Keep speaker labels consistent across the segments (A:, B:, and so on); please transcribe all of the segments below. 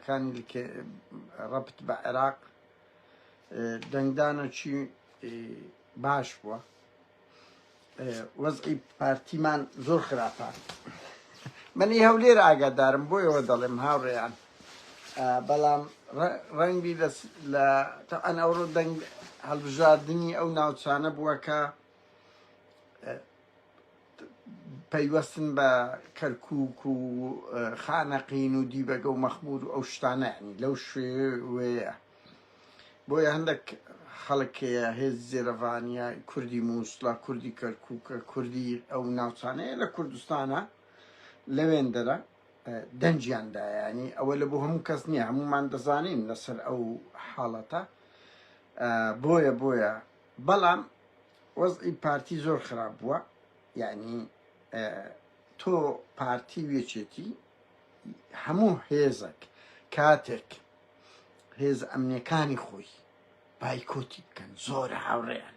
A: کانی رەبت بە عێراق دەنگدانەکی باش بووە وەزعی پارتیمان زۆر خراپە منی هەولێر ئاگادارم بۆ ئێوە دەڵێم هاوڕێیان بەڵام ڕەنگی لە ئەن ئەوڕۆ دەنگ هەڵبژاردننی ئەو ناوچانە بووە کە پەیوەستن بە کەرکوک و خانەقین و دیبەگە و مەخمور و ئەو شتانە ینی لەو شوێوەیە بۆیە هەندێک خەڵکەیە هێز زێرەڤانیا کوردی مووسڵە کوردی کەرکووکە کوردی ئەو ناوچانەیە لە کوردستانە لەوێندەرە دەنجیاندایانی ئەوە لە بۆ هەموو کەس نییە هەمومان دەزانین لەسەر ئەو حاڵەتە بۆیە بۆیە بەڵام وەزعی پارتی زۆر خراپ بووە یعنی تۆ پارتی وێچێتی هەموو هێزەک کاتێک هێز ئەمنیەکانی خۆی بایکۆتی بکەن زۆر هاوڕێیان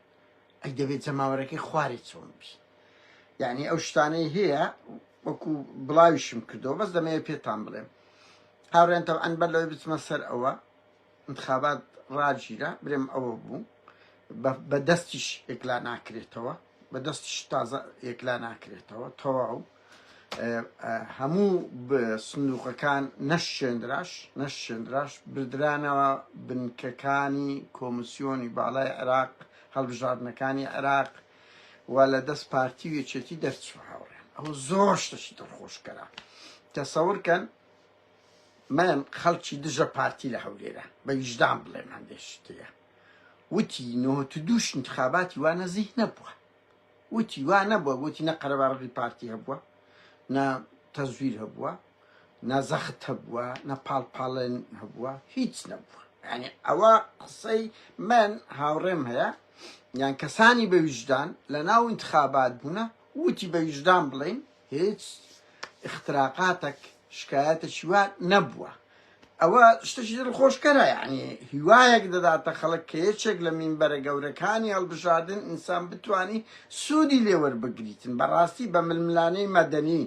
A: ئەی دەبێت جەماوەرەکەی خوارێ چۆن بی یعنی ئەو شتانەی هەیە وەکو بڵاویشم کردەوە بەس دەمەیە پێتان بڵێم هاوڕێن تەوان بەر لەوەی بچمە سەر ئەوە انتخابات ڕاگیرا برێم ئەوە بوو بە بە دەستیش ئێکلا ناکرێتەوە بە دەستیش تازە ئێکلا ناکرێتەوە تەواو هەموو سندوقەکان نەشێنراش نەشێنراش بردرانەوە بنکەکانی کۆمسیۆنی باڵای عێراق هەڵبژاردنەکانی عێراق و لە دەست پارتی وێچێتی دەرچوە هاوڕێن ئەوە زۆر شتەشی دڵخۆشکەرە تەسەورکەن من خەڵکی دژە پارتی لە هەولێرە بە ویژدان بڵێم هەندێک شتەیە وتی نۆهەت و دووش انتخاباتی وا نەزیه نەبووە وتی وا نەبووە وتی نە قەرەباڵغی پارتی هەبووە نە تەزویر هەبووە نە زەخت هەبووە نە پاڵپاڵێن هەبووە هیچ نەبووە یعنی ئەوە قسەی من هاوڕێم هەیە یان کەسانی بە ویژدان لە ناو انتخابات بوونە وتی بە ویژدان بڵین هیچ اختراقاتەک شکایەتەکی وا نەبووە ئەوە شتەکی دڵخۆشکەرە یعنی هیوایەک دەداتە خەڵک کە یەکێک لە مینبەرە گەورەکانی هەڵبژاردن ئینسان بتانی سوودی لێوەربگریتن بەڕاستی بە ململانەی مەدەنی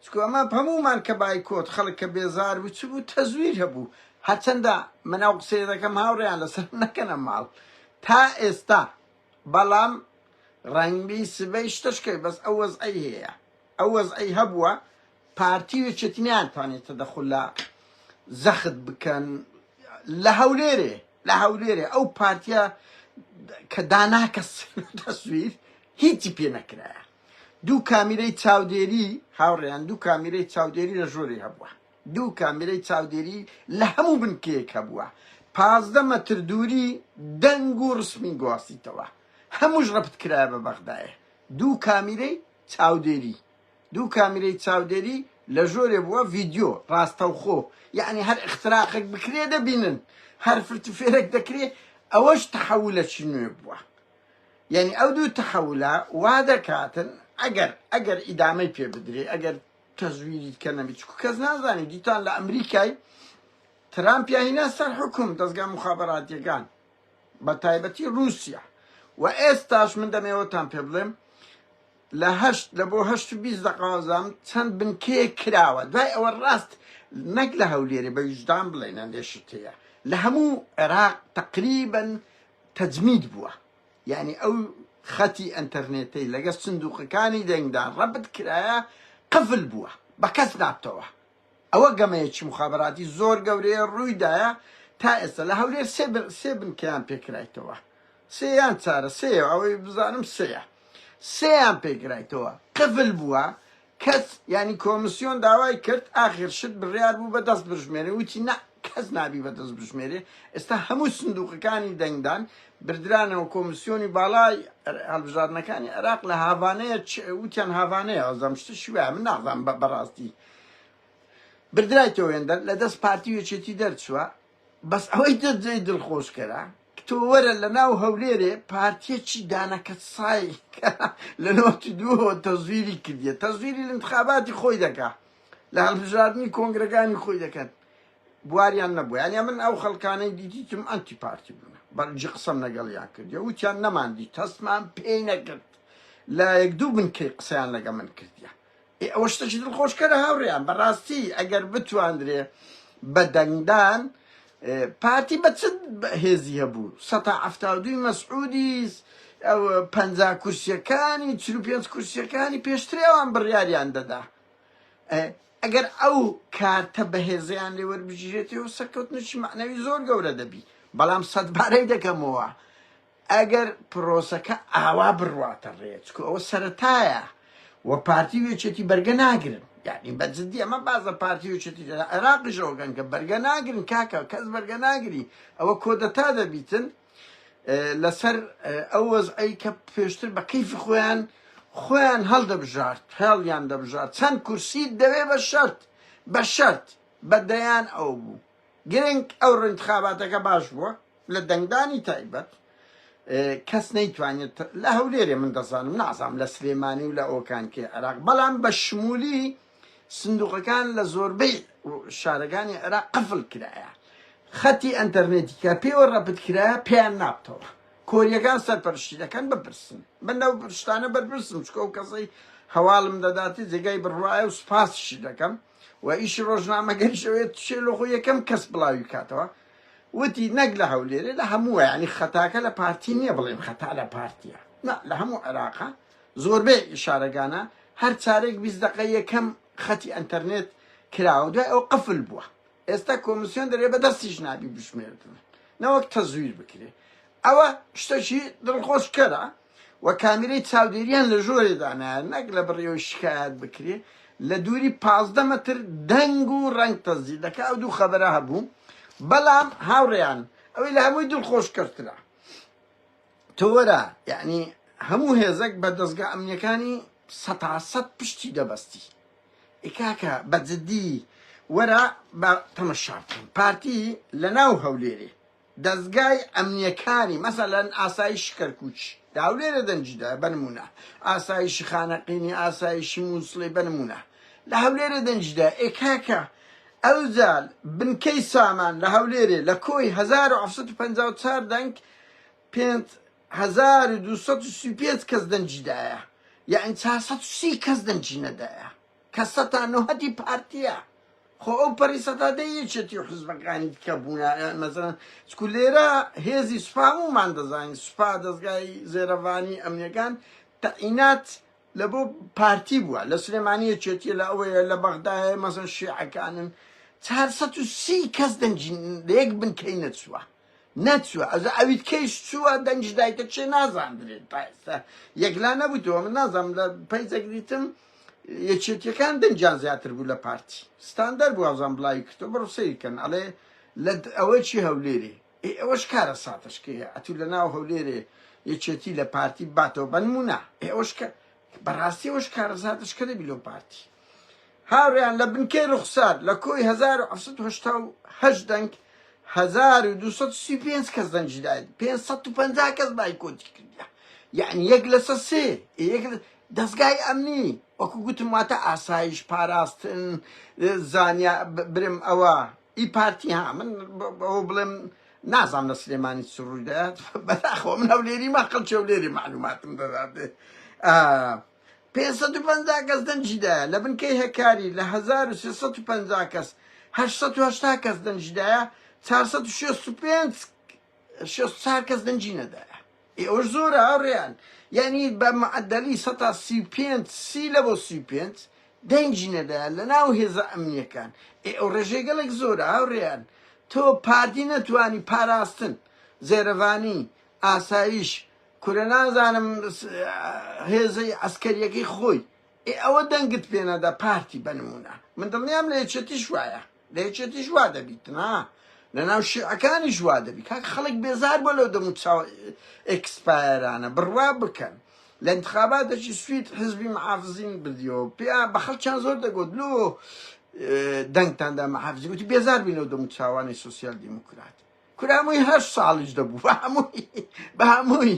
A: چکو ئەمە هەمومان کە بایکۆت خەڵک کە بێزار بوو چ بوو تەزویر هەبوو هەرچەندە من ئەو قسەیە دەکەم هاوڕێیان لەسەر نەکەنە ماڵ تا ئێستا بەڵام ڕەنگبی سبەی شتە شکەوێ بەس ئەو وەزعەی هەیە ئەو وەزعەی هەبووە پارتی و چێتی نەیانتوانێت تەدەخول لە زەخت بکەن لە هەولێرێ لە هەولێرێ ئەو پارتیە کە داناکە تەسویر هیچی پێ نەکرایە دوو کامیرەی چاودێری هاوڕێیان دوو کامیرەی چاودێری لە ژووری هەبووە دوو کامێرەی چاودێری لە هەموو بنکەیەک هەبووە، پازدە مەتر دووری دەنگ و ڕسمی گواستیتەوە، هەمووش ڕەپت کرایە بە بەغدایێ دوو کامیرەی چاودێری، دوو کامیرەی چاودێری لە ژۆرێ بووە ڤیدیۆ ڕاستەوخۆ، یەعنی هەر ئختراقەک بکرێ دەبینن، هەر فرتوفێرەک دەکرێ، ئەوەش تەحەولەکی نوێ بووە، یەعنی ئەو دوو تەحەولە وا دەکاتن ئەگەر ئەگەر ئیدامەی پێ بدرێ ئەگەر. تەزویری کە نەبی چکو کەس نازانی دیتان لە ئەمریکای ترامپیا هینا سەر حکوم دەستگا مخابراتیەکان بە تایبەتی رووسیا و ئێستاش من دەمێوەتان پێ بڵێم لە هەشت لە بۆ هەشت و بیست دەقازام چەند بنکەیە کراوە دوای ئەوە ڕاست نەک لە هەولێرێ بە ویژدان بڵێنە لێشتەیە لە هەموو عێراق تقریبن تەجمید بووە یانی ئەو خەتی ئەنتەرنێتەی لەگەڵ سندوقەکانی دەنگدا ڕەبت کرایە قفل بووە بە کەس نابتەوە ئەوە گەمەیەکی مخابراتی زۆر گەورەیە ڕوویدایە تا ئێستا لە هەولێر سێ بن سێ بنکەیان پێکرایتەوە سێیان چارە سێ ئەوەی بزانم سێە سێیان پێکرایتەوە قفل بووە کەس یانی کۆمسیۆن داوای کرد ئاخر شت بڕیار بوو بە دەست بژمێرێ وتی نا کەس نابی بە دەست بژمێرێ ئێستا هەموو سندوقەکانی دەنگدان بردرانەوە کۆمسیۆنی باڵای هەڵبژاردنەکانی عێراق لە هاڤانەیە وتیان هاڤانەیە ئەزەم شتە شوێ من نازان بە بەڕاستی بردرایتەوە وێندەر لە دەست پارتی وێچێتی دەرچووە بەس ئەوەی تر جێی دڵخۆشکەرە تۆ وەرە لە ناو هەولێرێ پارتیەکی دانە کەسای کە لە نەوەتی دووەوە تەزویری کردیە تەزویری انتخاباتی خۆی دەکا لە هەڵبژاردنی کۆنگرەکانی خۆی دەکەن بواریان نەبوو یانە من ئەو خەڵکانەی دیدیتم ئەنتی پارتی بوون بەرجی قسەم لەگەڵیان کردی وتیان نەماندی تەستمان پێی نەکرد لە یەک دوو بنکەی قسەیان لەگە من کردیە ئێ ئەوە شتەکی دڵخۆشکەرە هاوڕێیان بەڕاستی ئەگەر بتواندرێ بە دەنگدان پارتی بە چ هێزی هەبوو سەتا هەفتا و دووی مەسعودیس ئەوە پەنجا کورسیەکانی چل و پێنج کورسیەکانی پێشترێ ئەوان بڕیاریان دەدا ئەگەر ئەو کارتە بەهێزیان لێ وەربگیرێتەوە سەرکەوتنشی معنەوی زۆر گەورە دەبی بەڵام سەدبارەی دەکەمەوە ئەگەر پرۆسەکە ئاوا بڕواتە ڕێ چکو ئەوە سەرەتایە و پارتی و یەکێتی بەرگە ناگرن یعنی بە جدی ئەمە باز لە پارتی و یەکێتی لە عێراقیشەوە گەن کە بەرگە ناگرن کاکە کەس بەرگە ناگری ئەوە کۆدەتا دەبیتن لەسەر ئەو وەزعی کە پێشتر بە کەیفی خۆیان خۆیان هەڵدەبژارد هێڵیان دەبژار چەند کورسی دەوێ بە شەرت بە شەرت بە دەیان ئەو بوو گرنگ ئەو رنتخاباتەکە باش بووە لە دەنگدانی تایبەت کەس نەیتوانێت لە هەولێرێ من دەزانم نازام لە سلێمانی و لە ئۆکانکی عێراق بەڵام بە شمولی سندوقەکان لە زۆربەی شارەکانی عێراق قفل کرایە خەتی ئەتەرنێتی کە پێوە ڕەپت کرایە پێیان نابتەوە کۆریەکان سەرپەرشتی دەکەن بپرسن من لەو پرشتانە بەرپرسم چکۆ کەسەی هەواڵم دەداتی جێگای بڕواایە و سوپاسشی دەکەم و ئیشی ڕۆژنامەگەریش ئەوێت چێلۆخۆ یەکەم کەس بڵاوی کاتەوە وتی نەک لە هەولێرێ لە هەمووە ینی خەتاکە لە پارتی نییە بڵێم خەتا لە پارتیە نا لە هەموو عێراقا زۆربەی ئیشارەگانە هەر چارێک بیست دقە یەکەم خەتی ئەتەرنێت کراوە دوای ئەو قفل بووە ئێستا کۆمسیۆن دەرێ بە دەستیش نابی بشمێردن نەوەک تەزویر بکرێ ئەوە شتەکی دڵخۆشکەرە و کامیرەی چاودێریان لە ژۆرێ دانایە نەک لە بڕیەوەی شکایەت بکرێ لە دووری پازدە مەتر دەنگ و ڕەنگ تەزدی دەکا ئەو دوو خەبەرە هەبوو بەڵام هاوڕێیان ئەوەی لە هەمووی دڵ خۆش کەرترا تۆرە یعنی هەموو هێزەک بە دەستگا ئەمنیەکانی سەتاسەد پشتی دەبەستی ئیکاکە بە جددی وەرە بە تەمەشا بکەین پارتی لە ناو هەولێرێ دەزگای ئەمنیەکانی مەسەلەن ئاسایشی کەرکوک دا هەولێرە دەنگی دا بە نمونە ئاسایشی خانەقینی ئاسایشی موسڵی بە نمونە لە هەولێرە دەنگی دا ئێ کاکە ئەوزال بنکەی سامان لە هەولێرێ لە کۆی 1954 دەنگ 5235 کەس دەنگی دایە یەعنی 430 کەس دەنگی نەدایە کە سەتا نۆهەدی پارتیە خۆ ئەو پەری سەدادە یەکێتی و حزبەکانی دیکە بوونە مەزەن چکو لێرە هێزی سوپا ومان دەزانین سوپا دەستگای زێرەڤانی ئەمنیەکان تەعینات لە بۆ پارتی بووە لە سلێمانیە چێتیە لە ئەوەیە لە بەغدایە مەزن شیعەکانن چهار سەد و سی کەس دەنجین لەیەک بنکەی نەچووە نەچوە ئەجا ئەویت کەیش چوە دەنگیش دایتە چێ نازاندرێت تا ئێستا یەکلا نەبوویتەوە من نازام لە پەیجەک دیتم یەکێتیەکان دەنگیان زیاتر بوو لە پارتی ستاندەر بوو ئازان بڵاوی کردو بڕ سەیرکەن ئەڵێ لە ئەوەی چی هەولێرێ ئێ ئەوەش کارە ساتەشکەیە ئەتوو لە ناو هەولێرێ یەکێتی لە پارتی باتەوە بەنمونە ئێ ئەوەش کە بەڕاستی ئەوە شکارەزاتە شکە دەبی لۆ پارتی هاوریان لە بنکەی ڕوخسار لە کۆی 1970 دەنگ 1235 کەس دەنگی داید 550 کەس بایکۆتی کردە یعنی یەک لەسە سێ یەک دەستگای ئەمنی وەکو گوتم واتە ئاسایش پاراستن زانیا برم ئەوە ئی پارتی ها من ئەوە بڵێم نازام لە سلێمانی چ ڕووی دەات بەداخەوە من هەولێری ما خەڵکی هەولێری معلوماتم دەداتێ پێنسەد و پەنجا کەس دەنجیدایە لە بنکەی هەکاری لە هەزار و سێسەد و پەنجا کەس هەشسەد و هەشتا کەس دەنجیدایە چارسەد و شێست و پێنج شێست و چار کەس دەنگی نەدایە ئێوەش زۆرە هاوڕێیان یانی بە معدەلی سەتا سی و پێنج سی لە بۆ سی و پێنج دەنگی نەدایە لە ناو هێزە ئەمنیەکان ئێ ئەو ڕێژەی گەڵێک زۆرە هاوڕێیان تۆ پارتی نەتوانی پاراستن زێرەڤانی ئاسایش کورە نازانم هێزەی عسکەریەکەی خۆی ئێ ئەوە دەنگت پێنەدا پارتی بەنمونە من دڵنیام لە یەکێتیش وایە لە یەکێتیش وا دەبیت نا لە ناو شیعەکانیش وا دەبی کاک خەڵک بێزار بۆ لەو دەمو چاو ئەکسپایرانە بڕوا بکەن لە انتخاباتێکی سوید حزبی محافزین بردیەوە پێ بە خەڵکیان زۆر دەگوت لۆ دەنگتاندا محافزی گوتی بێزار بین لەو دەمو چاوانی سوسیال دیموکرات کرامووی هەر ساڵیش دەبوو بە هەمووی بە هەمووی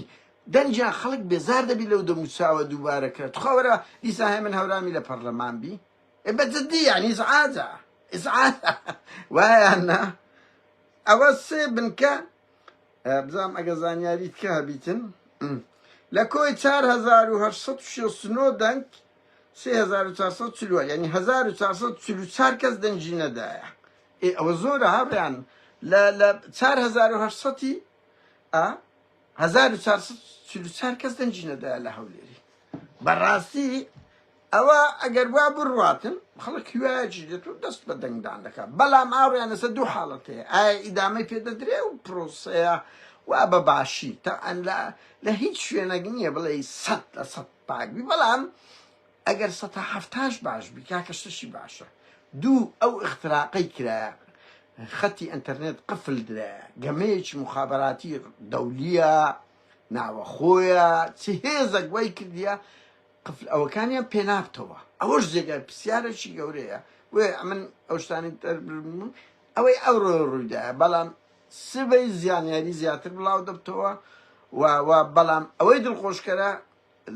A: دەنجیان خەڵک بێزار دەبی لەو دەموچاوە دووبارەکە تخواوەرە دیساهێ من هەورامی لە پەرلەمان بی ئێ بە جدی یانی ئیزعاجە ئیزعاجە وایان نا ئەوە سێ بنکە بزانم ئەگە زانیاریت کە هەبیتن لە کۆی 1969 دەنگ 3440 یعنی 1444 کەس دەنگی نەدایە ئێ ئەوە زۆرە هاڕیان لە لە 1970 1444 کەس دەنگی نەدایە لە هەولێری بەڕاستی ئەوا ئەگەر وا بڕواتن خەڵک هیوایەکی دێت و دەست بە دەنگدان دەکات، بەڵام ئاڕیان لەسەر دوو حاڵەت هەیە، ئایا ئیدامەی پێ دەدرێ و پرۆسەیە وا بە باشی، تەبعەن لە لە هیچ شوێنەک نییە بڵێی سەد لە سەد پاک بی، بەڵام ئەگەر سەتا حەفتاش باش بی کاکە شتێکی باشە. دوو، ئەو ئیختراقەی کرایە، خەتی ئەنتەرنێت قفل درایە، گەمەیەکی موخابەراتی دەولییە، ناوەخۆیە، چ هێزەک وای کردیە، قفل ئەوەکانیان پێنابتەوە ئەوەش جێگای پرسیارێکی گەورەیە بۆیە ئەمن ئەوشتانی تەربرمون ئەوەی ئەوڕۆ ڕوویدایە بەڵام سبەی زیانیاری زیاتر بڵاو دەبتەوە و و بەڵام ئەوەی دڵخۆشکەرە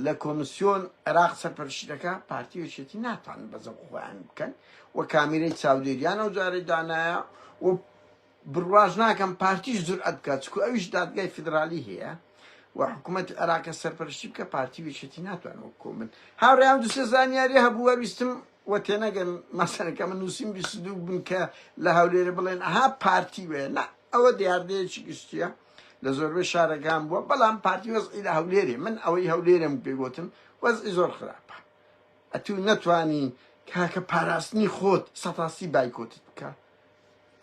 A: لە کۆمسیۆن عێراق سەرپەرشتەکە پارتی وچێتی ناتوان بەزە خۆیان بکەن و کامیرەی چاودێریان ئەو جارەی دانایە و بڕواش ناکەم پارتیش جورئەت بکات چکو ئەویش دادگای فیدرالی هەیە و حکومەتی عێراقە سەرپەرشتی بکە پارتی ویشێتی ناتوان وەک کۆمن هاوڕیان دوسێ زانیاری هەبوو وەویستم و تێنەگەن مەسەرەکە من نووسیم بیست دوو بن کە لە هەولێرە بڵێن ئەها پارتی وێ نە ئەوە دیاردەیەکی گشتیە لە زۆربەی شارەکان بووە بەڵام پارتی وەزعی لە هەولێرێ من ئەوەی هەولێرم پێگوتن وەزعی زۆر خراپە ئەتوو نەتوانی تاکە پاراستنی خۆت سەتاسی بایکۆتت بکە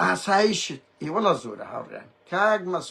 A: ئاسایشت ئێ وەڵا زۆرە هاوڕێیان کاک مە.